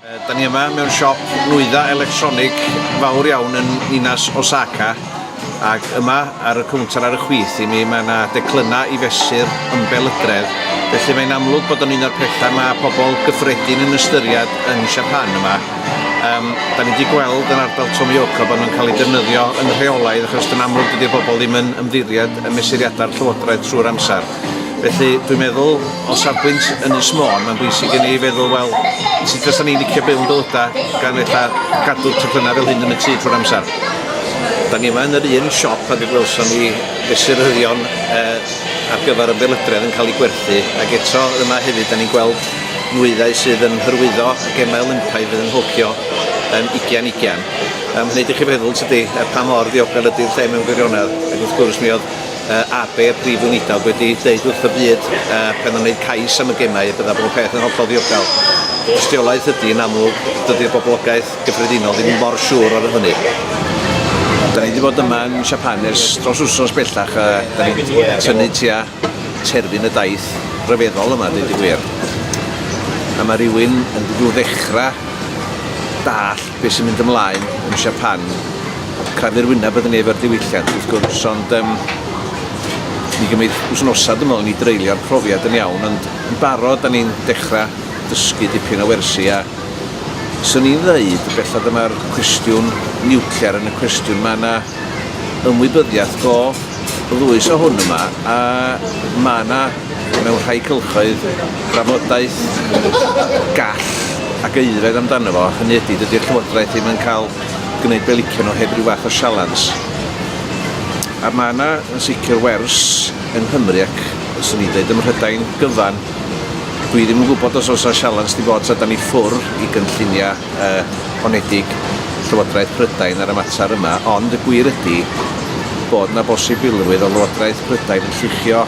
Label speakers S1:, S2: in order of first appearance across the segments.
S1: Da ni yma mewn siop nwyddau electronig fawr iawn yn ninas Osaka ac yma ar y cownter ar y chwith i mi mae yna declynnau i fesur ymbel ydredd felly mae'n amlwg bod o'n un o'r pethau mae pobl gyffredin yn ystyried yn Siapan yma. Um, da ni wedi gweld yn ardal Tomioka bod nhw'n cael ei defnyddio yn rheolaidd achos yn amlwg dydy'r bobl ddim yn ymddiried y mesuriadau'r llywodraeth trwy'r amser. Felly, dwi'n meddwl, o safbwynt Ynys Môn, mae'n bwysig i ni feddwl, wel, sut fysa ni'n licio byw yn bywydau gan eitha gadw'r teclynnau fel hyn yn y tŷ trwy'r amser. Da ni yma yn yr un siop a fe gwelson ni fesuryddion e, ar gyfer y belydredd yn cael ei gwerthu, ac eto yma hefyd da ni'n gweld nwyddau sydd yn hyrwyddo y gemau Olympaidd fydd yn Nhokyo yn 2020. Mae'n gwneud i chi feddwl, tydi, pa mor ddiogel ydy'r lle mewn gwirionedd, ac wrth gwrs mi oedd uh, AB, y Prif Weinidog, wedi dweud wrth y byd uh, pan o'n gwneud cais am y gemau y bydda bob peth yn hollol ddiogel. Ystiolaeth ydy yn amlwg, dydy'r boblogaeth gyffredinol ddim mor siŵr o'r hynny. Da ni wedi bod yma yn Siapan ers dros wrsos bellach a da ni wedi tynnu tua terfyn y daith rhyfeddol yma, dweud y gwir. A mae rhywun yn dod ddechrau dall Be sy'n mynd ymlaen yn Siapan, crafu'r wyneb ydyn ni efo'r diwylliant wrth gwrs, ond um, mi gymryd wsnosa dwi'n meddwl i ni dreulio'r profiad yn iawn, ond yn barod da ni'n dechrau dysgu dipyn o wersi a swn i'n ddeud bellad y mae'r cwestiwn niwclear yn y cwestiwn, mae yna ymwybyddiaeth go ddwys o hwn yma a mae yna mewn rhai cylchoedd, drafodaeth gall ac aeddfed amdano fo, hynny ydi, dydi'r Llywodraeth ddim yn cael gwneud be licion nhw heb ryw fath o sialens. A mae yna yn sicr wers yng Nghymru ac, fyswn i'n dweud, ym Mhrydain gyfan. Dwi ddim yn gwybod os oes yna sialens 'di bod tra 'dan ni ffwr i gynlluniau y honedig Llywodraeth Prydain ar y mater yma, ond y gwir ydy bod yna bosibilrwydd o Lywodraeth Prydain yn lluchio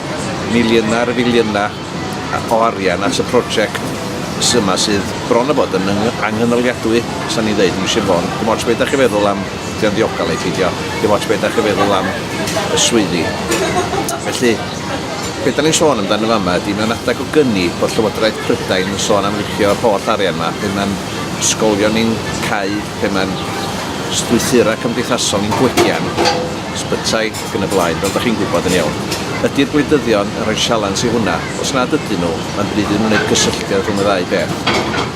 S1: miliynau ar filiynau o arian at y prosiect yma sydd bron a bod yn anghynaliadwy, os ni'n dweud yn Sir Fôn. Dim ots beth ydych chi'n feddwl am, ydy o'n ddiogel neu pheidio, dim ots beth ydych chi'n feddwl am y swyddi. Felly, be' 'dan ni'n sôn amdano fama ydi mewn adeg o gyni bod Llywodraeth Prydain yn sôn am ripio'r holl arian 'ma pe ma'n ysgolion ni'n cau, pe ma'n strwythura' cymdeithasol ni'n gwegian, ysbytai ac yn y blaen, fel 'dach chi'n gwybod yn iawn. Ydi'r gwleidyddion yn rhoi sialens i hwnna? Os nad ydyn nhw, ma'n bryd iddyn nhw wneud cysylltiad rhwng y ddau beth.